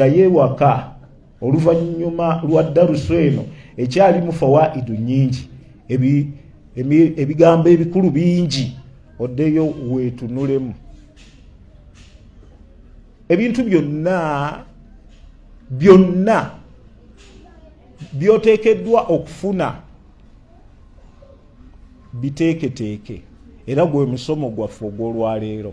ddayo ewaka oluvannyuma lwa darusu eno ekyalimu fawaidu nyingi ebigambo ebikulu bingi oddeyo weetunulemu ebintu byonna byonna byoteekeddwa okufuna biteeketeeke era gwe musomo gwaffe ogw'olwaleero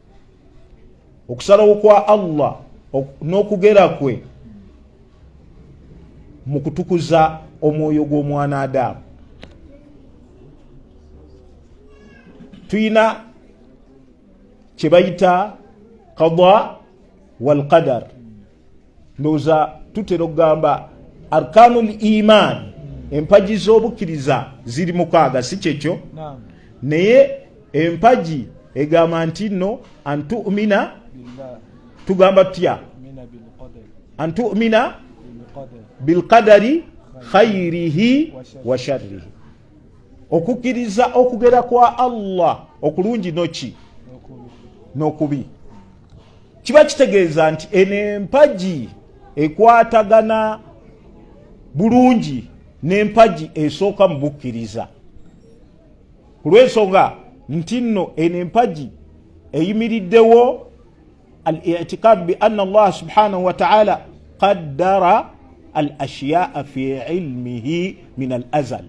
okusalawo kwa allah n'okugera kwe mu kutukuza omwoyo gw'omwana adaamu tulina kye bayita kada walqadar ndowooza tutera okugamba arkanu l iman empagi z'obukkiriza ziri mukaaga si kyekyo naye empagi egamba nti no antumina tugamba tutya antumina bilkadari khairihi wa sharrihi okukkiriza okugera kwa allah okulungi noki n'okubi kiba kitegeeza nti eno empagi ekwatagana bulungi n'empagi esooka mu bukkiriza ku lw'ensonga nti nno eno empagi eyimiriddewo al itikad bi anna allaha subhanahu wataala qaddara al ashiyaa fi ilmihi min al azal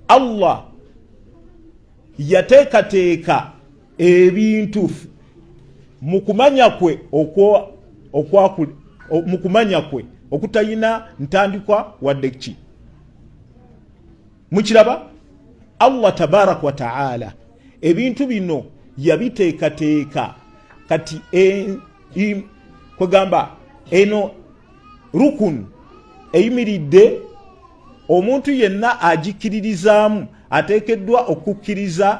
allah yateekateeka ebintu mu kumanya kwe mu kumanya kwe okutalina ntandikwa wadde ki mukiraba allah tabaraka wataala ebintu bino yabiteekateeka kati e, kwegamba eno rukun eyimiridde omuntu yenna agikiririzaamu ateekeddwa okukkiriza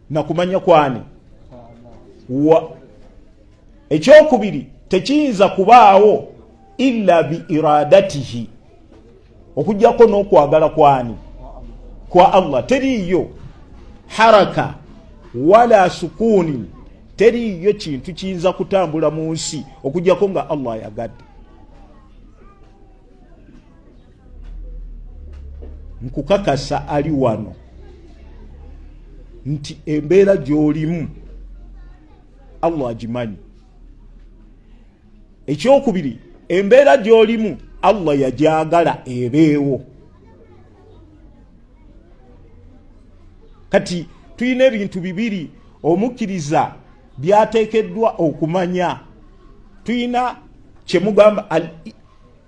nakumanya kwani wa ekyokubiri tekiyinza kubaawo ila biiradatihi okujjako n'okwagala kwani kwa allah teriiyo haraka wala sukuuni teriiyo kintu kiyinza kutambula mu nsi okujjako nga allah ayagadde nkukakasa ali wano nti embeera gy'olimu allah agimanyi ekyokubiri embeera gy'olimu allah yagyagala ebeewo kati tulina ebintu bibiri omukkiriza byateekeddwa okumanya tulina kyemugamba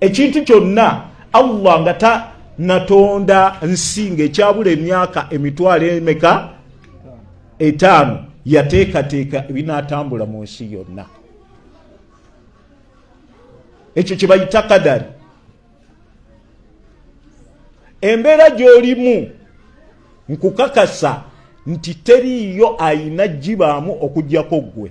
ekintu kyonna allah nga ta natonda nsi ngaekyabula emyaka emitwalo emeka etaano yateekateeka ebinatambula mu nsi yonna ekyo kyebayita kadari embeera gyolimu nkukakasa nti teriiyo ayina gibaamu okujjako ggwe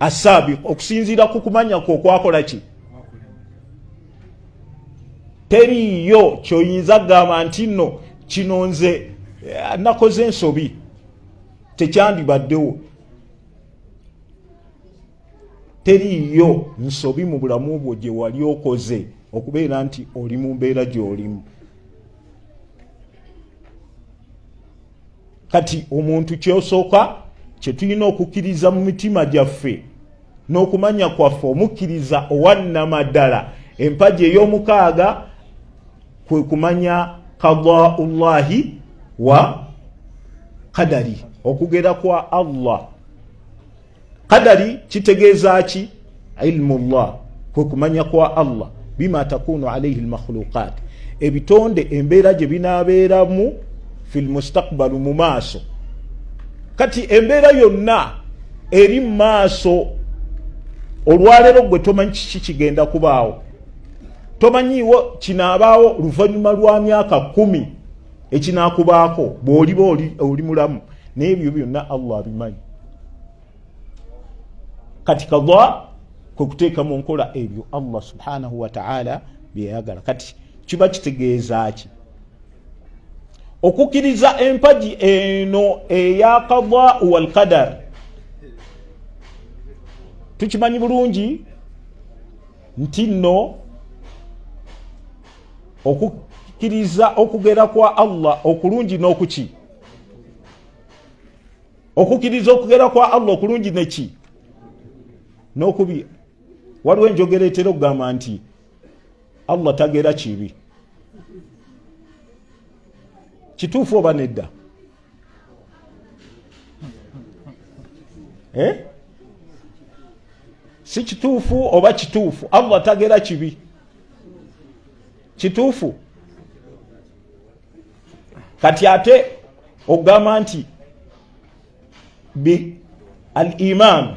asaabi okusinziira ku kumanya kwe okwakola ki teriiyo kyoyinza kugamba nti nno kino nze eh, nakoze ensobi tekyandibaddewo teriiyo nsobi mu bulamu bwo gye wali okoze okubeera nti oli mu mbeera gy'olimu kati omuntu kyosooka kyetulina okukkiriza mu mitima gyaffe n'okumanya kwaffe omukkiriza owannamaddala empagi ey'omukaaga kwe kumanya kadaullahi wa kadari okugera kwa allah Kadari kitegeeza ki? Ilmu llah, kwe kumanya kwa Allah bima takunu alaihi lmakhluqat, ebitonde embeera gye binaabeeramu fi lmustakbalu mu maaso. Kati embeera yonna eri mu maaso, olwaleero gwe tomanyi kiki kigenda kubaawo, tomanyiiwo kinaabaawo luvannyuma lwa myaka kumi. ekinakubaako bwoliba oli mulamu naye ebyo byonna allah abimanyi kati kada kwekuteeka mu nkola ebyo allah subhanahu wataala byeyagala kati kiba kitegeeza ki okukkiriza empagi eno eya kada walkadar tukimanyi bulungi nti nno okukkiriza okugera kwa allah okulungi n'okuki okukkiriza okugera kwa allah okulungi neki n'okubi waliwo enjogera etera okugamba nti allah tagera kibi kituufu oba nedda eh? si kituufu oba kituufu allah tagera kibi kituufu kati ate ogamba nti bi al imaanu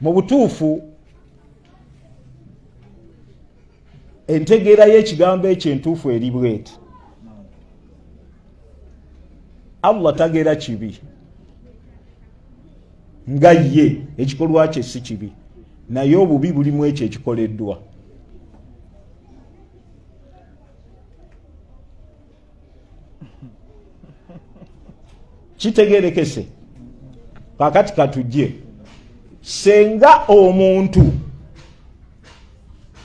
mu butuufu entegeera y'ekigambo ekyo entuufu eri bweti allah tagera kibi nga ye ekikolwa kye si kibi naye obubi bulimu ekyo ekikoleddwa kitegerekese kakati katujje senga omuntu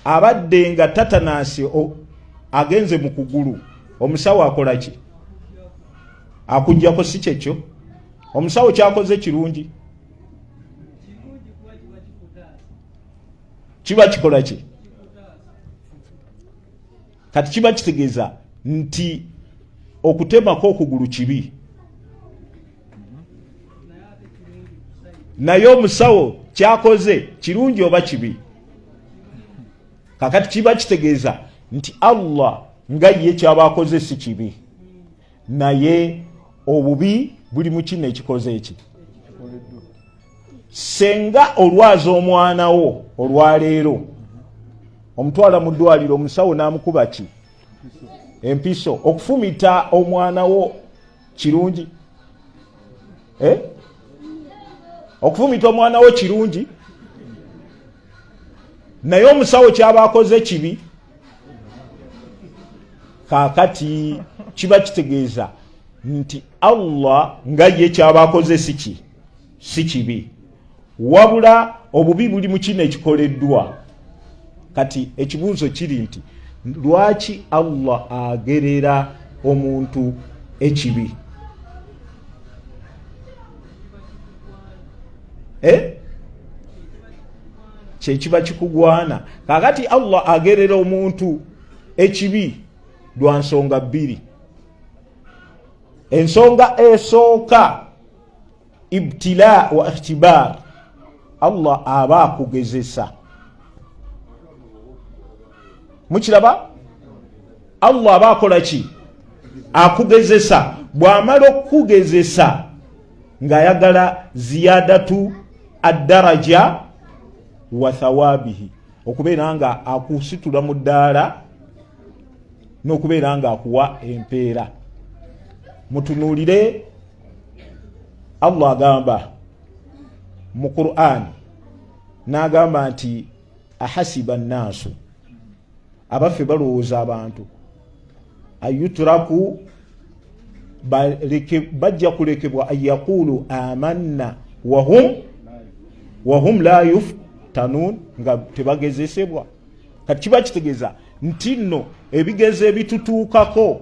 abadde nga tatanasi agenze mu kugulu omusawo akola ki akujjako si kyekyo omusawo kyakoze kirungi kiba kikola ki kati kiba kitegeeza nti okutemako okugulu kibi naye omusawo kyakoze kirungi oba kibi kakati kiba kitegeeza nti allah nga ye kyaba akoze si kibi naye obubi buli mu kino ekikoze eki senga olwaza omwana wo olwaleero omutwala mu ddwaliro omusawo n'amukuba ki empiso okufumita omwana wo kirungi eh? okufumita omwana wo kirungi naye omusawo kyaba akoze kibi kakati kiba kitegeeza nti allah nga ye kyaba akoze si ki si kibi wabula obubi buli mu kino ekikoleddwa kati ekibuuzo kiri nti lwaki allah agerera omuntu ekibi eh? kyekiba kikugwana kakati allah agerera omuntu ekibi lwa nsonga bbiri ensonga esooka ibtila wa ikhtibar allah aba akugezesa mukiraba allah aba akola ki akugezesa bwamala okukugezesa ngaayagala ziyadatu addaraja wa thawabihi okubeera nga akusitula mu ddaala n'okubeera nga akuwa empeera mutunuulire allah agamba mu qurani n'agamba nti ahasiba nnaasu abaffe balowooza abantu ayuturaku bajja kulekebwa anyakuulu amanna wahum wahum la yuftanun nga tebagezesebwa kati kiba kitegeeza nti nno ebigezo ebitutuukako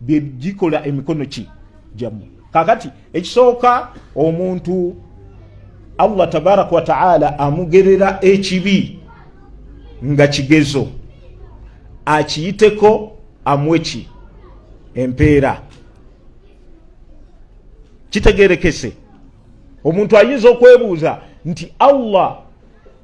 bye gikola emikono ki gyammwe kakati ekisooka omuntu allah tabaraka wataala amugerera ekibi nga kigezo akiyiteko amweki empeera kitegerekese omuntu ayinza okwebuuza nti allah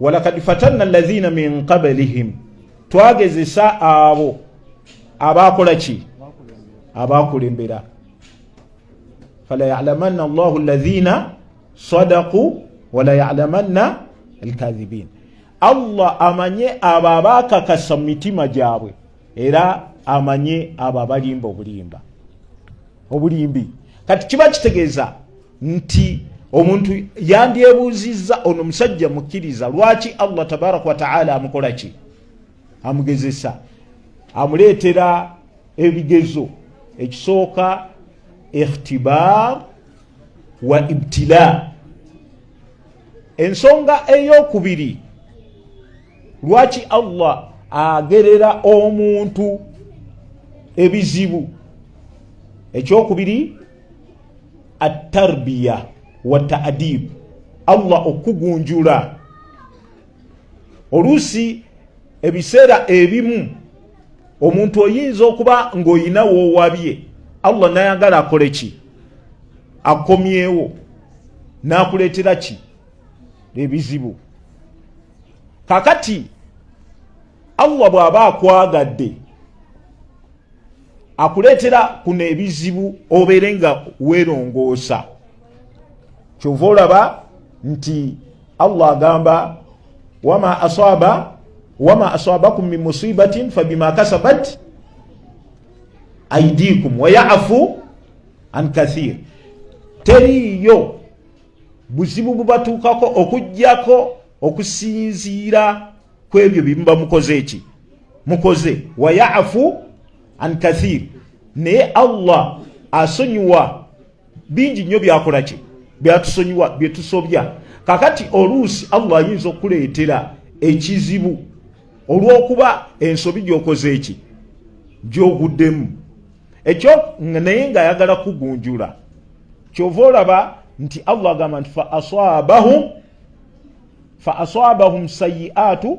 walakad fatanna alladhina min qablihim twagezesa abo abaakola ki abaakulembera fala yalamanna allahu alladhina sadaku wala yalamanna alkadhibin allah amanye abo abaakakasa mu mitima gyabwe era amanye abo abalimba obulimba obulimbi kati kiba kitegeeza nti omuntu yandyebuuzizza ono musajja mukkiriza lwaki allah tabaraka wataala amukola ki amugezesa amuleetera ebigezo ekisooka ikhtibar wa ibtila ensonga eyokubiri lwaki allah agerera omuntu ebizibu ekyokubiri attarbiya wa taadib allah okugunjula oluusi ebiseera ebimu omuntu oyinza okuba ng'olina woowabye allah nayagala akole ki akomyewo n'akuleetera ki ebizibu kakati allah bw'aba akwagadde akuleetera kuno ebizibu obeere nga weerongoosa kyova olaba nti allah agamba wama asaba wama asabakum min musibatin fabima kasabat aidikum wayafu an kathir teriiyo buzibu bubatuukako okugyako okusinziira kwebyo byemuba mukoze eki mukoze wayafu an kathir naye allah asonyiwa bingi nnyo byakola kye byatusonyiwa byetusobya kakati oluusi allah ayinza okuleetera ekizibu olwokuba ensobi gyokoze eki gyoguddemu ekyo naye nga ayagala kugunjula kyova olaba nti allah agamba nti fa asabahum fa asabahum sayiatu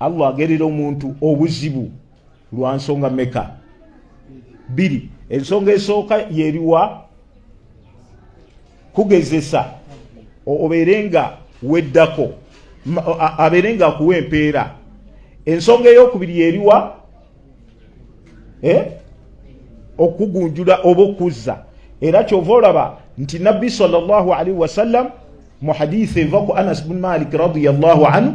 Allah agerera omuntu obuzibu lwa nsonga meka biri ensonga esooka yeriwa kugezesa obeere nga weddako abeere nga akuwa empeera ensonga eyokubiri yeriwa eh? okugunjula oba okuzza era kyova olaba nti nabbi salllah alaihi wasallam mu hadisi eva ku anas bun malik radiallahu anhu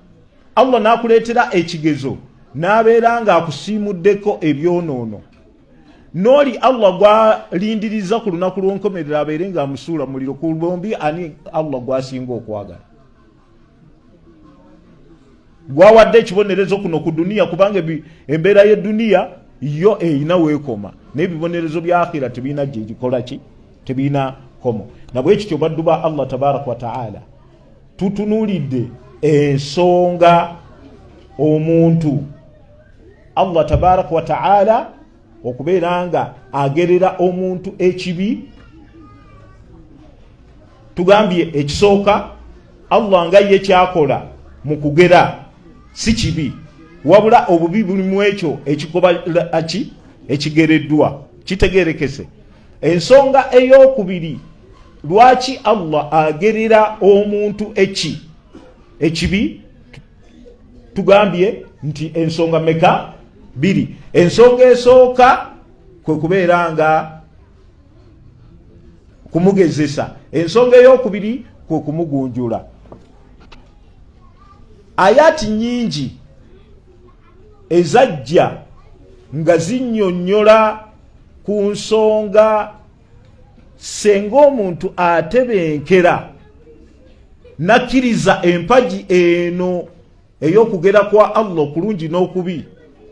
allah n'akuleetera ekigezo n'abeera ng'akusiimuddeko ebyonoono n'oli allah gwalindiriza ku lunaku lw'onkomerero abeere ng'amusuula muliro ku bombi ani allah gwasinga okwagala gwawadde ekibonerezo kuno ku duniya kubanga embeera y'eduniya yo eyina weekoma naye ebibonerezo bya akhira tebirina gyegikola ki tebirina komo nabwekityo baddu ba allah tabaraka wataala tutunulidde ensonga omuntu allah tabaraka wataala okubeera nga agerera omuntu ekibi tugambye ekisooka allah nga ye kyakola mu kugera si kibi wabula obubi buli mu ekyo ekikoba ki ekigereddwa kitegerekese ensonga eyokubiri lwaki allah agerera omuntu eki ekibi tugambye nti ensonga meka biri ensonga esooka kwe kubeera nga kumugezesa ensonga eyokubiri kwe kumugunjula ayati nyingi ezajja nga zinyonyola ku nsonga senga omuntu atebenkera nakkiriza empagi eno ey'okugera kwa allah okulungi n'okubi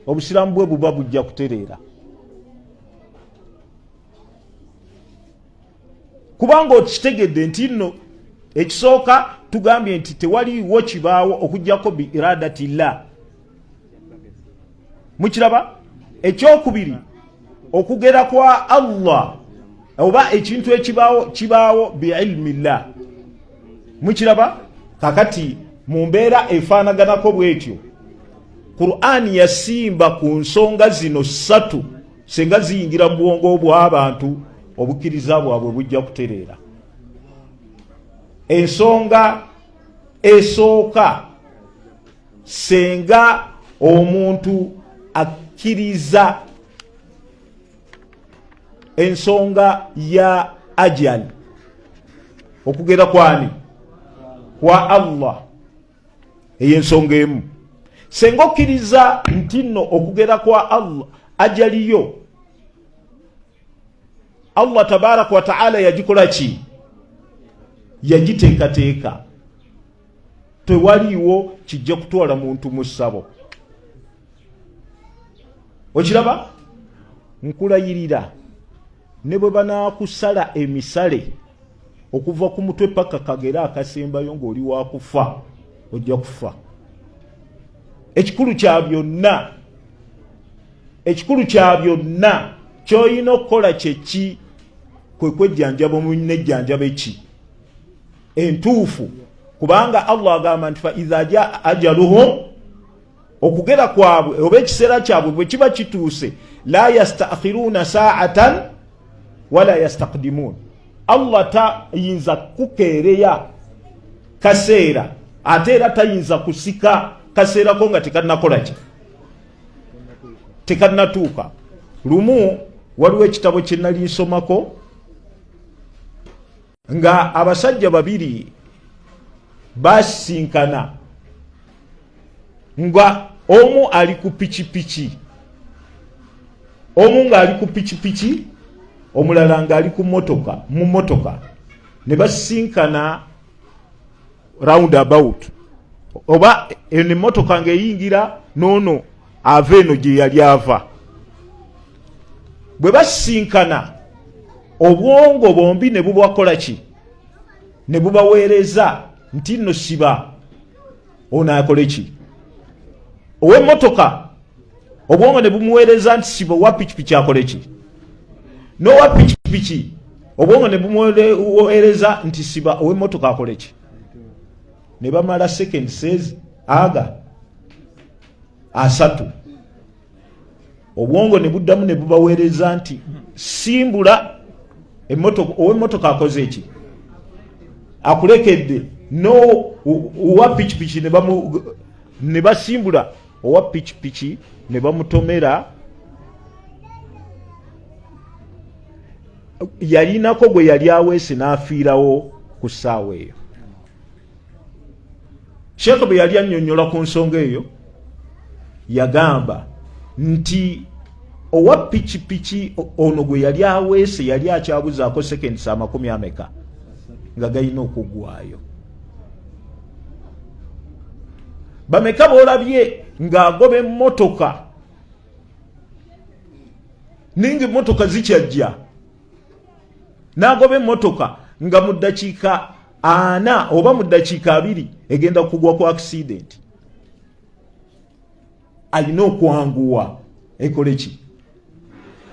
obusiraamu bwe buba bujja kutereera kubanga okitegedde nti nno ekisooka tugambye nti tewaliwo kibaawo okujjako bi iradati llah mukiraba ekyokubiri okugera kwa allah oba ekintu ekibaawo kibaawo biilmi llah mukiraba kakati mu mbeera efaanaganako bwetyo qur'ani yasimba ku nsonga zino ssatu singa ziyingira mu bwongo bw'abantu obukkiriza bwabwe bujja kutereera ensonga esooka senga omuntu akkiriza ensonga ya ajali okugera kwani kwa allah eyo ensonga emu senga okkiriza nti nno okugera kwa allah ajaliyo allah tabaraka wataala yagikola ki yagiteekateeka tewaliiwo kijja kutwala muntu mu ssabo okiraba nkulayirira ne bwe banaakusala emisale okuva ku mutwe paka kagere akasembayo ng'oli wakufa ojja kufa ekikulu kya byonna ekikulu kya byonna kyolina okukola kyeki kwe kwejjanjaba omunejjanjaba eki entuufu kubanga allah agamba nti fa iza jaa ajaluhum okugera kwabwe oba ekiseera kyabwe bwe kiba kituuse la yastakhiruuna saatan wala yastakdimuun allah tayinza kukeereya kaseera ate era tayinza kusika kaseerako nga tekanakolaki tekanatuuka lumu waliwo ekitabo kyenali nsomako nga abasajja babiri basinkana nga omu ali ku pikipiki omu ng'ali ku pikipiki omulala ng'ali ku motoka mu motoka ne basinkana round about oba eno emmotoka ng'eyingira noono ava eno gye yali ava bwe basisinkana obwongo bombi ne bubakola ki ne bubaweereza nti nno siba ono akole ki ow'emmotoka obwongo ne bumuweereza nti siba owa pikipiki akole ki n'owa pikipiki obwongo ne bumuweereza nti siba ow'emmotoka akole ki ne bamala second says aga asatu obwongo ne buddamu ne bubaweereza nti simbula ow'emmotoka akoze eki akulekedde no uwa pikipiki ne basimbula owa pikipiki ne bamutomera yalinako gwe yali aweese n'afiirawo ku ssaawa eyo sheekh bwe yali annyonnyola ku nsonga eyo yagamba nti owa pikipiki ono gwe yali aweese yali akyabuzaako sekendisa amakumi ameka nga galina okuggwayo bameka bolabye ng'agoba emmotoka ninga emmotoka zikyajja n'agoba emmotoka nga mu ddakiika ana oba mu ddakiika abiri egenda kugwa ku akisidenti alina okwanguwa ekole ki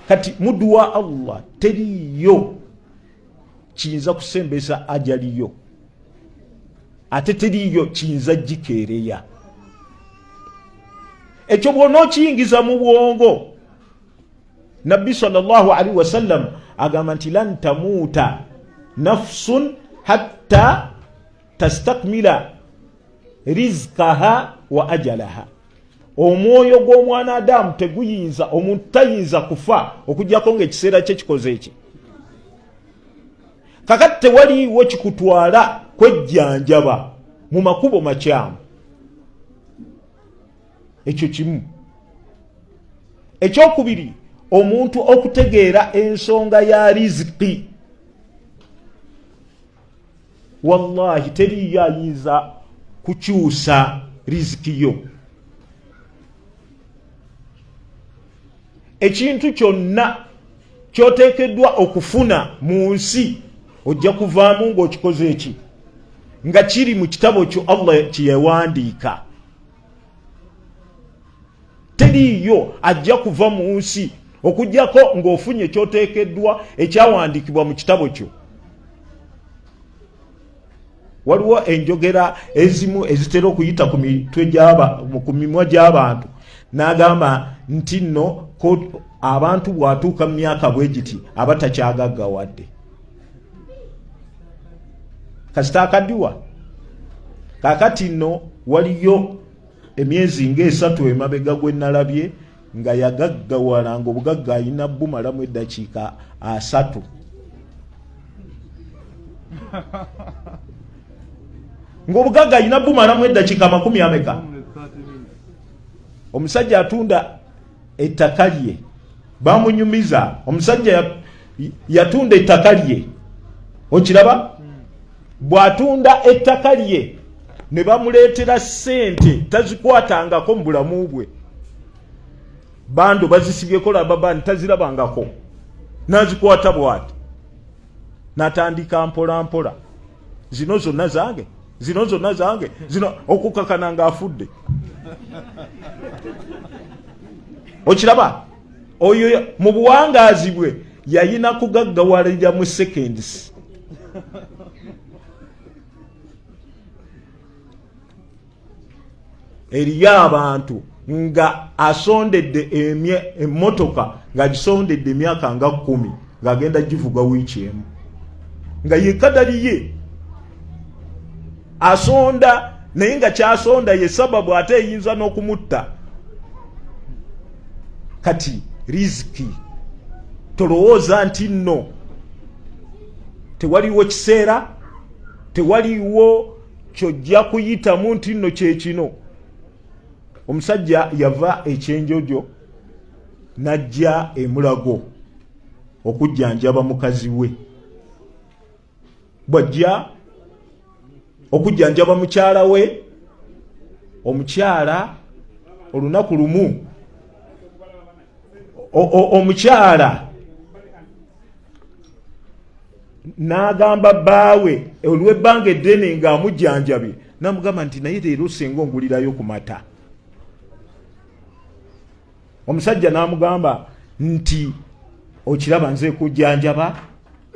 kati muduwa allah teriyo kiyinza kusembesa ajaliyo ate teriyo kiyinza gikeereya ekyo bwona okiyingiza mu bwongo nabbi salllahu alaihi wasallam agamba nti lan tamuuta nafsun hatta tastakmila rizkaha wa ajalaha omwoyo gw'omwana adamu teguyinza omuntu tayinza kufa okujjako ngaekiseera kye kikoze eki kakati tewaliwo kikutwala kwejjanjaba mu makubo makyamu ekyo kimu ekyokubiri omuntu okutegeera ensonga ya riziki wallahi teriyo ayinza kukyusa riziki yo ekintu kyonna kyoteekeddwa okufuna mu nsi ojja kuvaamu ng'okikoze eki nga kiri mu kitabo kyo allah kyeyawandiika teriiyo ajja kuva mu nsi okujjako ng'ofunye ekyoteekeddwa ekyawandiikibwa mu kitabo kyo waliwo enjogera ezimu ezitera okuyita ku mitwe gyaba ku mimwa gy'abantu n'agamba nti nno abantu bw'atuuka mu myaka bwe giti aba takyagaggawadde kasita akadiwa kakati no waliyo emyezi ngaesatu emabega gwenalabye nga yagaggawala nga obugagga alina bumalamu eddakiika asatu ngaobugagga alina bumalamu eddakiika amakumi ameka omusajja atunda ettaka lye bamunyumiza omusajja yatunda ettaka lye okiraba bw'atunda ettaka lye ne bamuleetera ssente tazikwatangako mu bulamu bwe bando bazisibyeko lababa nti tazirabangako n'azikwata bwati n'atandika mpolampola zino zonna zange zino zonna zange zino okukakana nga afudde okiraba oyo mu buwangaazi bwe yayina kugaggawalira mu seconds eriyo abantu nga asondedde emmotoka ng'agisondedde emyaka nga kkumi ng'agenda givuga wiiki emu nga yekadaliye asonda naye nga kyasonda ye sababu ate eyinza n'okumutta kati riziki tolowooza nti nno tewaliwo kiseera tewaliwo kyojja kuyitamu nti nno kyekino omusajja yava ekyenjojo n'ajja emulago okujjanjaba mukazi we bwajja okujjanjaba mukyala we omukyala olunaku lumu omukyala n'agamba bbaawe olw'ebbanga eddene ng'amujjanjabye namugamba nti naye leero singa ongulirayo ku mata omusajja n'amugamba nti okiraba nze kujjanjaba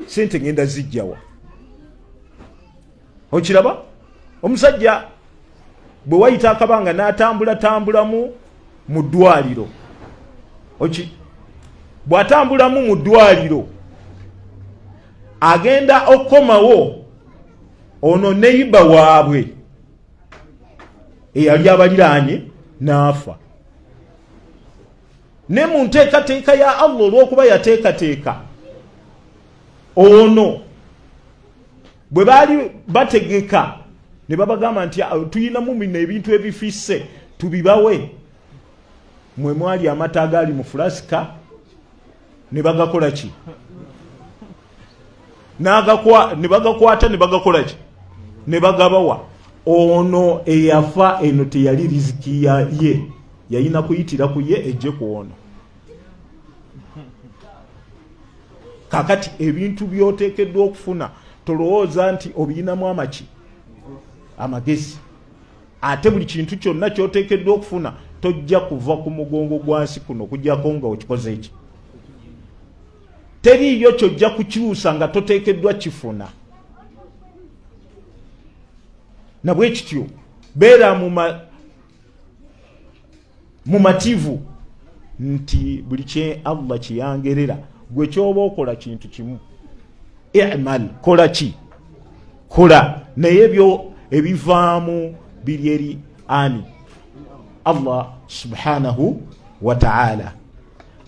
sente ngenda zijjawa okiraba omusajja bwe wayita akabanga n'atambula tambulamu mu ddwaliro oki bw'atambulamu mu ddwaliro agenda okukomawo ono neyiba waabwe eyali abaliraanye n'afa ne mu nteekateeka ya allah olw'okuba yateekateeka ono bwe baali bategeka ne babagamba nti ah, tulina mumina ebintu ebifisse tubibawe mwe mwali amata agaali mu fulasika ne bagakola ki ne bagakwata ne bagakola ki ne bagabawa ono eyafa eno teyali riziki ye yayina kuyitira ku ye ejje ku ono kakati ebintu byotekeddwa okufuna tolowooza nti obiyinamu amaki amagezi ate buli kintu kyonna kyotekeddwa okufuna tojja kuva ku mugongo gwansi kuno kujjako nga okikoze eki teriiyo kyojja kukyusa nga totekeddwa kifuna nabwekityo beera muma mumativu nti buli kye allah kyeyangerera gwe kyoba okola kintu kimu imal kola ki kola naye ebyo ebivaamu biri eri ani allah subhanahu wataala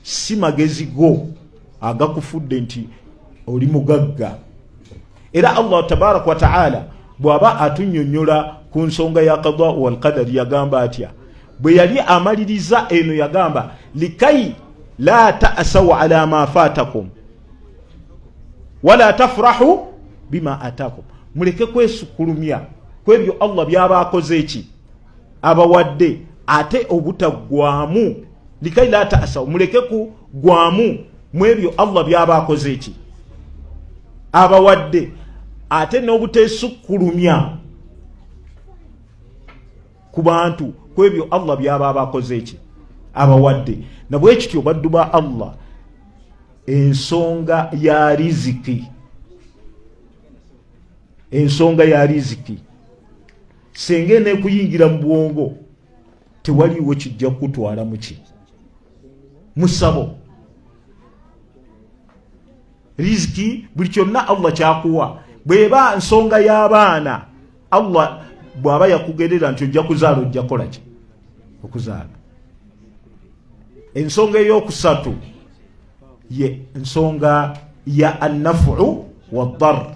si magezi go agakufudde nti oli mugagga era allah tabaraka wataala bwaba atunyonyola ku nsonga ya kada walqadari yagamba atya bwe yali amaliriza eno yagamba likai la tasau ala ma fatakum wala tafurahu bima atakum muleke kwesukulumya kwebyo allah byaba akoze eki abawadde ate obutaggwamu likai la ta'asaw muleke ku gwamu mwebyo Allah byaba akoze eki abawadde ate n'obuteesukkulumya ku bantu ku ebyo allah byaba abakoze eki abawadde nabwekityo baddu ba allah ensonga ya riziki ensonga ya riziki senga enekuyingira mu bwongo tewaliwo kijja kukutwala muki musabo riziki buli kyonna allah kyakuwa bweba nsonga y'abaana allah bw'aba yakugerera nti ojja kuzaala ojja kola ki okuzaala ensonga ey'okusatu ye nsonga ya annafuu waddar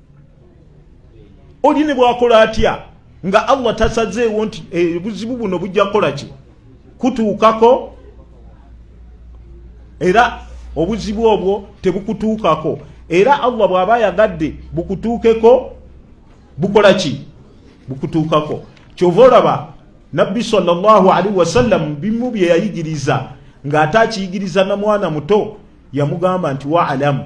oli ne bwakola atya nga allah tasazeewo nti eh, ebuzibu buno bujja kukola ki kutuukako era obuzibu obwo tebukutuukako era allah bw'aba ayagadde bukutuukeko bukola ki bukutuukako kyova olaba nabbi salllahu alaihi wasallam bimu bye yayigiriza ng'ate akiyigiriza na mwana muto yamugamba nti waalamu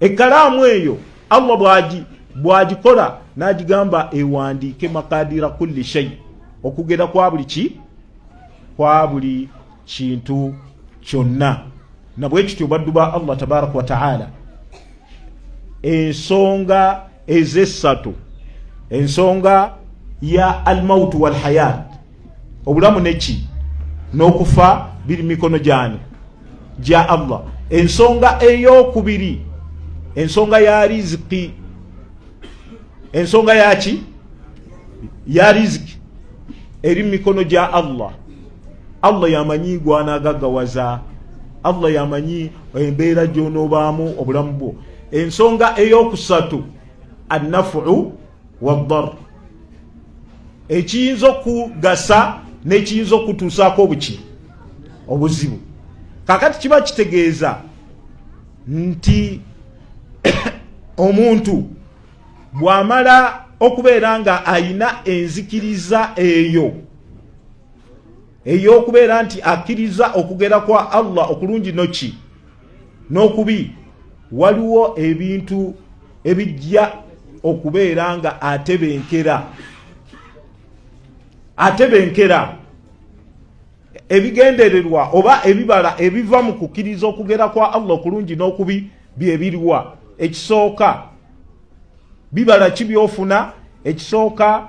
Ekkalaamu eyo Allah bwagi bwagikola n'agigamba ewandiike makadira kulli shei okugera kwa buli ki kwa buli kintu kyonna nabwe kityo baddu ba Allah tabaraka wa taala ensonga ez'essatu ensonga ya almautu walhayat obulamu neki n'okufa biri mikono gyani gya allah ensonga eyokubiri ensonga ya riziki ensonga yaki ya riziki eri mu mikono gya allah allah yamanyi gwanagagawaza allah yamanyi embeera gyonoobaamu obulamu bwo ensonga eyokusatu annafuu wadar ekiyinza okugasa nekiyinza okutuusaako obuki obuzibu kakati kiba kitegeeza nti omuntu bwamala okubeera nga ayina enzikiriza eyo ey'okubeera nti akkiriza okugera kwa allah okulungi noki n'okubi waliwo ebintu ebijja okubeera nga atebenkera atebenkera ebigendererwa oba ebibala ebiva mu kukkiriza okugera kwa allah okulungi n'okubi byebiriwa ekisooka bibala ki byofuna ekisooka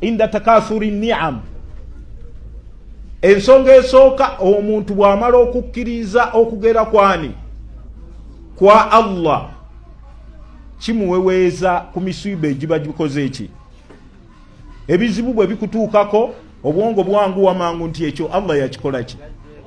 inda takathuri niam ensonga esooka omuntu bw'amala okukkiriza okugera kwani kwa allah kimuweweeza ku misiiba egiba gikoze eki ebizibu bwe bikutuukako obwongo bwangu wamangu nti ekyo allah yakikola ki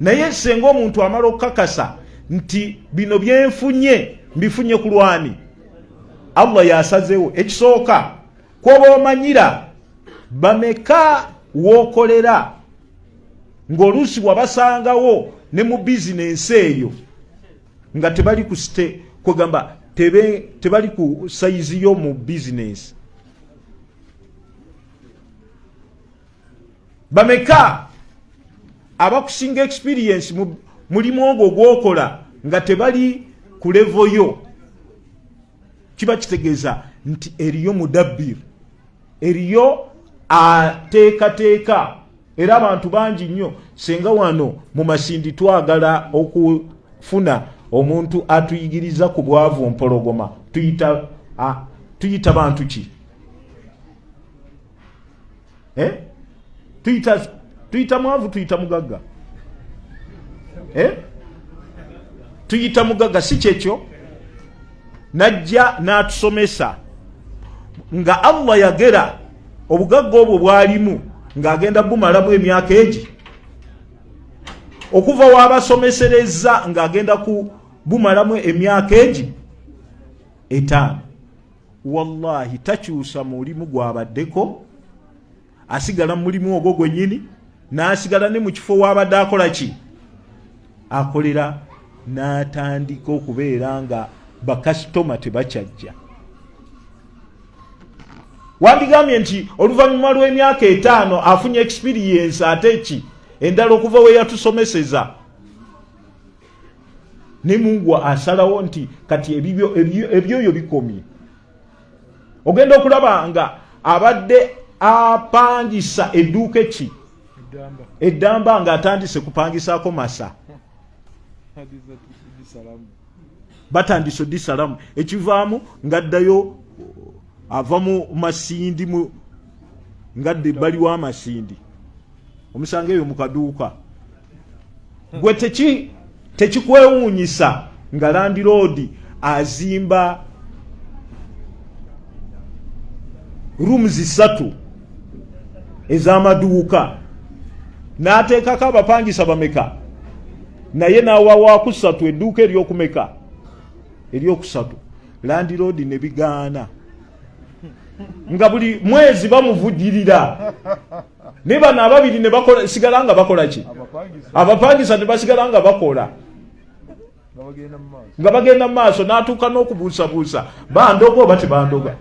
naye senga omuntu amala okukakasa nti bino byenfunye mbifunye ku lwani allah yasazewo ekisooka kwoba omanyira bameka wokolera ngaoluusi wabasangawo ne mu bizinensi eyo nga tebali ku site kwegamba tebali ku sayizi yo mu bizinensi bameka abakusinga experience mu mulimu ogwo gwokola nga tebali ku levo yo kiba kitegeeza nti eriyo mudabbir eriyo ateekateeka era abantu bangi nnyo singa wano mu masindi twagala okufuna omuntu atuyigiriza ku bwavu mpologoma tuyita, a, tuyita bantu ki eh? tuyita tuyita mwavu tuyita mugagga eh? tuyita mugagga si kyekyo najja n'atusomesa nga allah yagera obugagga obwo bwalimu ng'agenda bumalamu emyaka egi okuva wabasomesereza ng'agenda ku bumalamu emyaka egi etaano wallahi takyusa mulimu gwabaddeko asigala mulimu ogwo gwenyini nasigala ne mukifo wabadde akola ki akolera natandika okubeera nga bakasitoma tebakyajja wandigambye nti oluvannyuma lw'emyaka etaano afunye experience ate ki endala okuva weyatusomeseza ne mungu asalawo nti kati ebibyo ebyoyo bikomye ogenda okulaba nga abadde apangisa edduuka eki eddamba nga atandise kupangisaako masa batandise odisalamu ekivaamu ngaddayo ava mu masindi mu ngadde baliwo amasindi omusanga eyo mukaduuka gwe teki tekikwewuunyisa nga landiroodi azimba rooms ssatu ez'amaduuka n'ateekako abapangisa bameka naye n'awawakusatu edduuka ery'okumeka eryokusatu landiroodi ne bigaana nga buli mwezi bamuvujirira naye bano ababiri nebasigala nga bakola ki abapangisa nebasigala nga bakola nga bagenda mu maaso n'atuuka n'okubuusabuusa bandoga oba tebandoga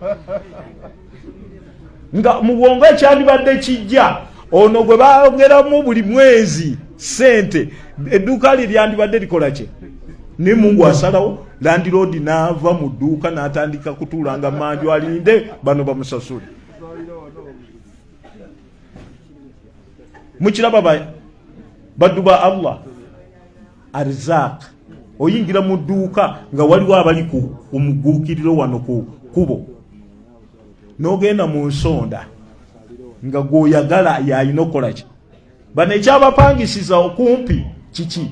nga mu bwongo ekyandibadde kijja ono gwe baogeramu buli mwezi sente edduuka lye lyandibadde likola kye naye mungu asalawo landiroodi n'ava mu dduuka n'atandika kutuulanga manju alinde bano bamusasule mukiraba baddu ba allah arizaq oyingira mu dduuka nga waliwo abali ku omuguukiriro wano ku kubo n'ogenda mu nsonda nga gwoyagala yalina okukolaki bano ekyabapangisiza okumpi kiki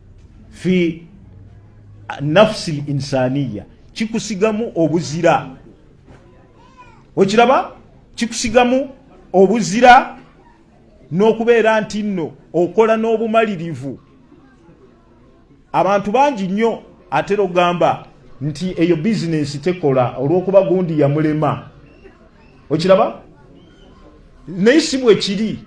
fi nafsi linsaniya kikusigamu obuzira okiraba kikusigamu obuzira n'okubeera nti nno okola n'obumalirivu abantu bangi nnyo atera okugamba nti eyo bizinensi tekola olw'okuba gundi yamulema okiraba naye si bwekiri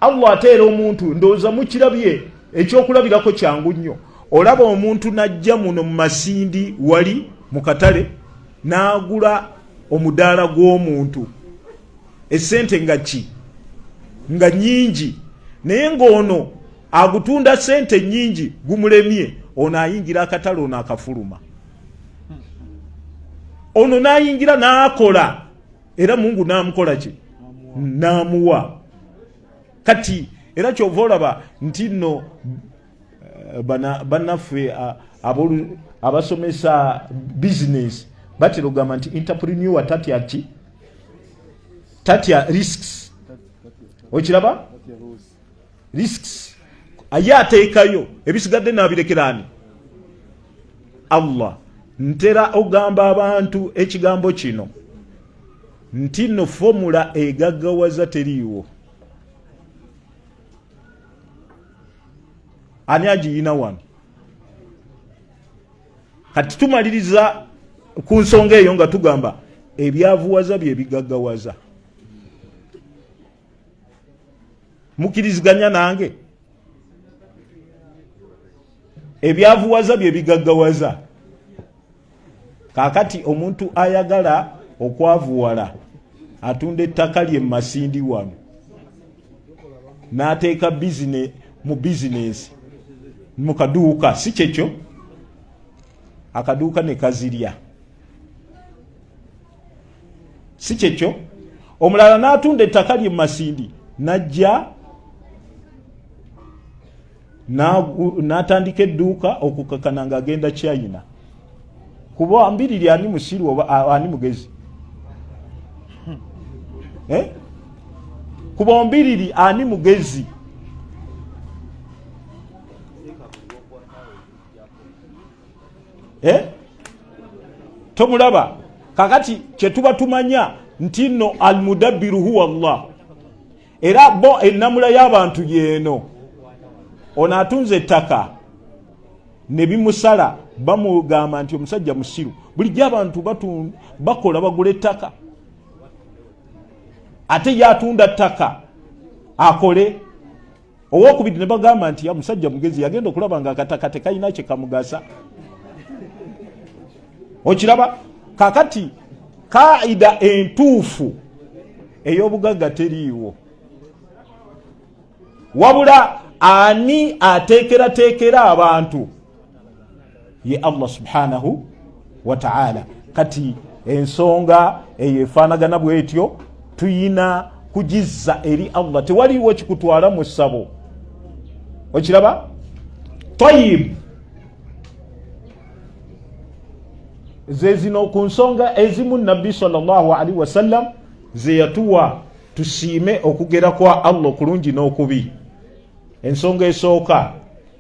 allah ateera omuntu ndowooza mukirabye ekyokulabirako kyangu nnyo olaba omuntu najja muno mu masindi wali mu katale n'agula omudaala gw'omuntu esente nga ki nga nyingi naye ng'ono agutunda sente nyingi gumulemye ono ayingira akatale ono akafuluma ono n'ayingira n'akola era mungu n'amukola ki n'amuwa kati era kyova olaba nti nno eh, bannaffe abasomesa bizinesi batera okugamba nti interprenua tatya ki tatya risks okiraba risks aye ateekayo ebisigadde nabirekeraani allah ntera ogamba abantu ekigambo kino nti no fomula egaggawaza teriiwo ani agiyina wano kati tumaliriza ku nsonga eyo nga tugamba ebyavuwaza byebigaggawaza mukiriziganya nange ebyavuwaza bye bigaggawaza kakati omuntu ayagala okwavuwala atunda ettaka lye mumasindi wano n'ateeka bizine mu bizinesi mu kaduuka si kyekyo akaduuka ne kazirya si kyekyo omulala n'atunda ettaka lye mu masindi n'ajja n'atandika edduuka okukakana ng'agenda china kuba mbiriri ani musiru oba ani mugezi eh? kuba mbiriri ani mugezi eh? tomulaba kakati kyetuba tumanya nti no almudabbiru huwa llah era bo ennamula y'abantu yeeno ono atunze ettaka ne bimusala bamugamba nti omusajja musiru bulijjo abantu bakola bagula ettaka ate yatunda ttaka akole owokubiri ne bagamba nti ya musajja mugezi yagenda okulaba nga akataka tekalina kye kamugasa okiraba kakati kaida entuufu ey'obugagga teriiwo wabula ani ateekerateekera abantu ye allah subhanahu wataala kati ensonga eyo efaanagana bwetyo tuyina kugizza eri allah tewaliwo kikutwala mu ssabo okiraba tayib zezino ku nsonga ezimu nabbi salllahalihi wasallam zeyatuwa tusiime okugera kwa allah okulungi n'okubi ensonga esooka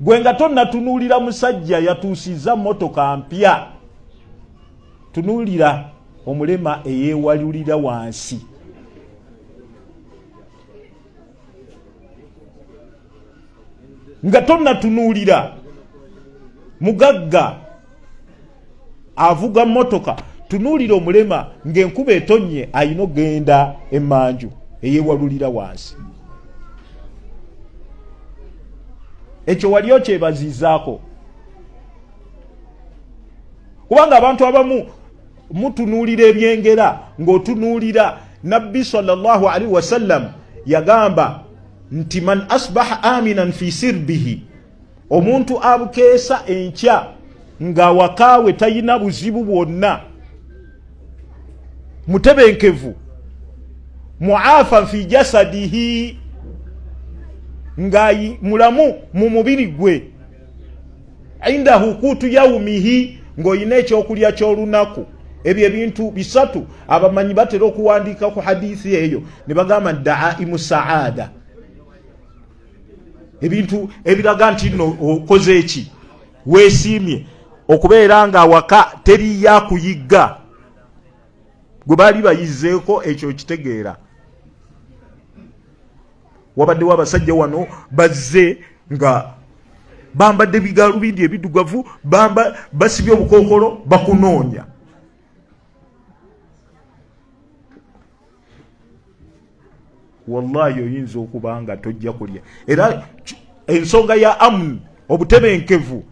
gwe nga tonnatunuulira musajja yatuusizza motoka mpya tunuulira omulema eyewalulira wansi nga tonnatunuulira mugagga avuga motoka tunuulira omulema ng'enkuba etonnye alina okugenda emanju eyewalulira wansi ekyo wali okyebaziizaako kubanga abantu abamu mutunuulira ebyengera ng'otunuulira nabbi salllah alaihi wasallam yagamba nti man asbaha aminan fi sirbihi omuntu abukeesa enkya nga awakaawe talina buzibu bwonna mutebenkevu muafa fi jasadihi nga mulamu mu mubiri gwe indahu kuutu yaumihi ng'olina ekyokulya ky'olunaku ebyo ebintu bisatu abamanyi batera okuwandiika ku hadithi eyo ne bagamba daaimu saada ebintu ebiraga nti no okoze eki wesiimye okubeera nga awaka teri yakuyigga gwe baali bayizeeko ekyo kitegeera wabaddewo abasajja wano bazze nga bambadde bigalubindi ebidugavu basibye obukookolo bakunoonya wallahi oyinza okuba nga tojja kulya era ensonga ya amun obutebenkevu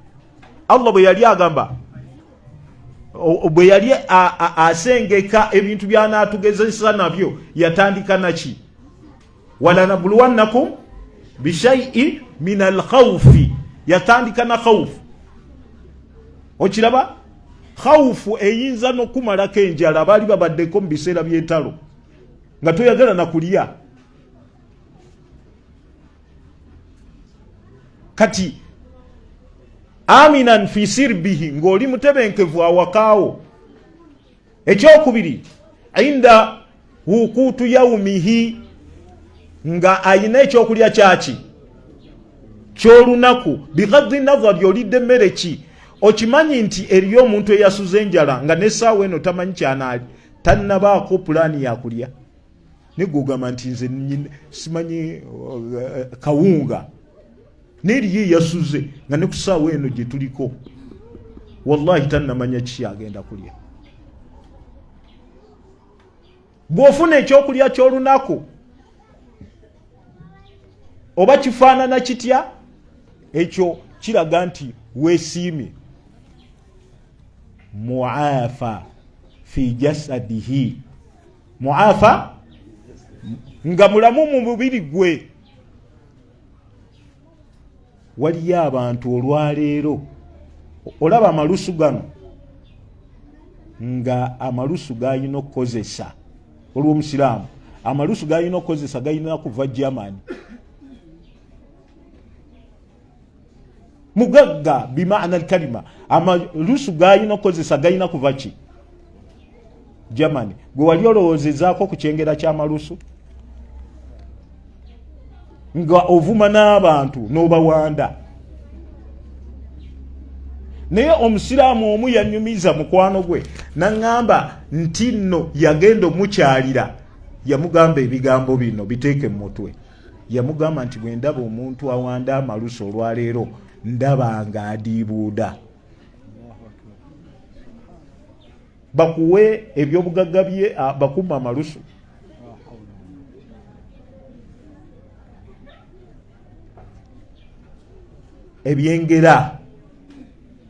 allah bwe yali agamba bwe yali asengeka ebintu byanaatugezesa nabyo yatandika naki walanabuluwannakum bishaiin min alkhaufi yatandika na khaufu okiraba khaufu eyinza nokumalako enjala baali babaddeko mu biseera byentalo nga toyagala nakulya kati aminan fi sirbihi ng'oli mutebenkevu awakaawo ekyokubiri inda wukuutu yaumihi nga ayina ekyokulya kyaki kyolunaku bigadhi nazari olidde emmere ki okimanyi nti eriyo omuntu eyasuza enjala nga nesaawa eno tamanyi kyanaali tannabaako pulaani yakulya nigugamba nti nze simanyi uh, kawunga naye eriyo eyasuze nga ne ku saawa eno gye tuliko wallahi tannamanya kiki agenda kulya bw'ofuna ekyokulya ky'olunaku oba kifaanana kitya ekyo kiraga nti weesiimye muafa fi jasadihi muafa nga mulamu mu mubiri gwe waliyo abantu olwaleero olaba amalusu gano nga amalusu galina okukozesa olwomusiraamu amalusu galina okukozesa galina kuva germany mugagga bimaana alkalima amalusu galina okukozesa galina kuva ki germany gwe wali olowoozezaako ku kyengera kyamalusu nga ovuma n'abantu n'obawanda naye omusiraamu omu yanyumiza mukwano gwe naŋŋamba nti nno yagenda omukyalira yamugamba ebigambo bino biteeke mu mutwe yamugamba nti bwe ndaba omuntu awanda amalusu olwaleero ndaba nga adiibuuda bakuwe ebyobugagga bye bakuuma amalusu ebyengera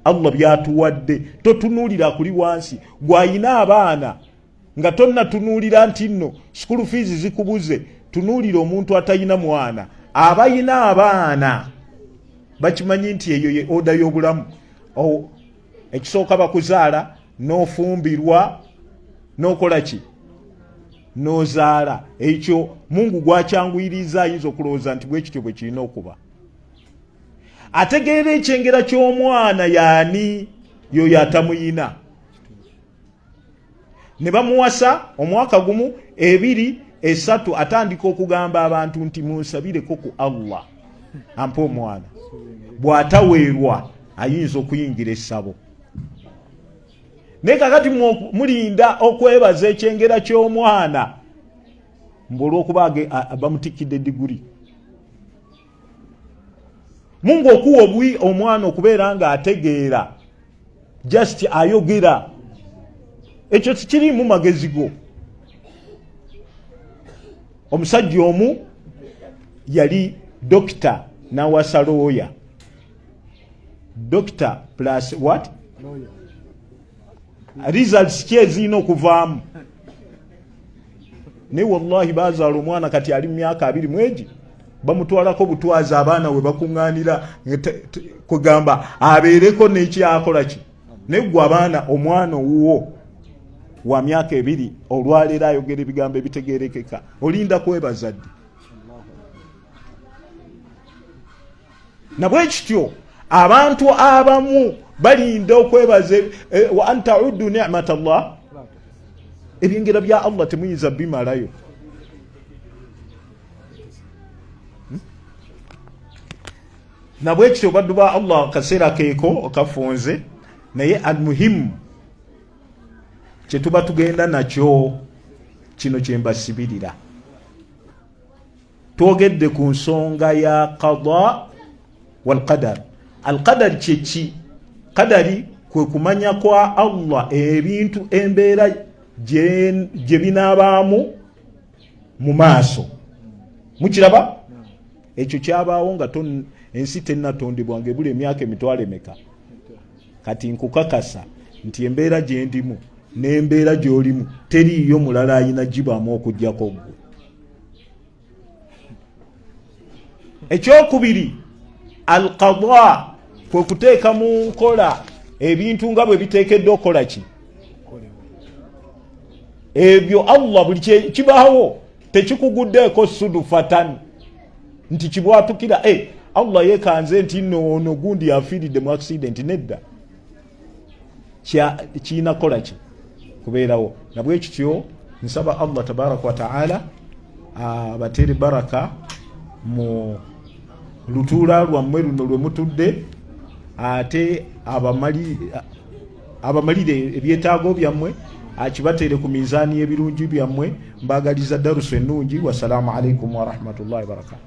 allah byatuwadde totunuulira kuli wansi gwayina abaana nga tonnatunuulira nti nno sukulu fiizi zikubuze tunuulira omuntu atalina mwana abalina abaana bakimanyi nti eyo ye oda y'obulamu ekisooka bakuzaala n'ofumbirwa n'okola ki n'ozaala ekyo mungu gwakyanguyiriza ayinza okulowooza nti bwe kityo bwe kirina okuba ategeera ekyengera ky'omwana yaani yoyo atamuyina ne bamuwasa omwaka gumu ebiri esatu atandika okugamba abantu nti munsabireko ku allah ampa omwana bw'ataweerwa ayinza okuyingira essabo naye kakati mulinda okwebaza ekyengera ky'omwana mbu olwokuba bamutikkidde diguli mungu okuwa obui omwana okubeera nga ategeera just ayogera ekyo tikiriimu magezi go omusajja omu yali dokita nawasa looya dokita plus what Lawyer. results ki ezirina okuvaamu naye wallahi bazaala omwana kati ali mu myaka abiri mwegi bamutwalako butwazi abaana we bakuŋŋaanira kugamba abeereko n'ekyakola ki naye gwe abaana omwana owuwo wa myaka ebiri olwaleero ayogera ebigambo ebitegerekeka olinda kwebaza ddi nabwe kityo abantu abamu balinda okwebaza eh, wa antaudu nimat llah ebyengera bya allah temuyinza bimalayo hmm? nabwekityo baddu ba allah akaseera keeko kafunze naye almuhimu kyetuba tugenda nakyo kino kyembasibirira twogedde ku nsonga ya qada walqadar alqadar kyeki kadari kwe kumanya kwa allah ebintu embeera gye binaabaamu mu maaso mukiraba ekyo kyabaawo nga ensi tennatondebwa nga ebula emyaka emitwalo emeka kati nkukakasa nti embeera gyendimu n'embeera gyolimu teriiyo mulala ayina gibaamu okugyako gwe ekyokubiri alqada kwe kuteeka mu nkola ebintu nga bwe biteekeddwa okukola ki ebyo allah buli kibaawo tekikuguddeeko sudufatan nti kibwatukira e eh, allah yekanze nti noono gundi yafiiridde mu accidenti nedda kirina kukola ki kubeerawo nabwe kityo nsaba allah tabaraka wataala abatere baraka mu lutuula lwammwe luno lwe mutudde ate abamalire ebyetaago byammwe akibateere ku minzaani y'ebirungi byammwe mbagaliza darusu ennungi wasalaamu alaikum warahmatullahi wabarakatu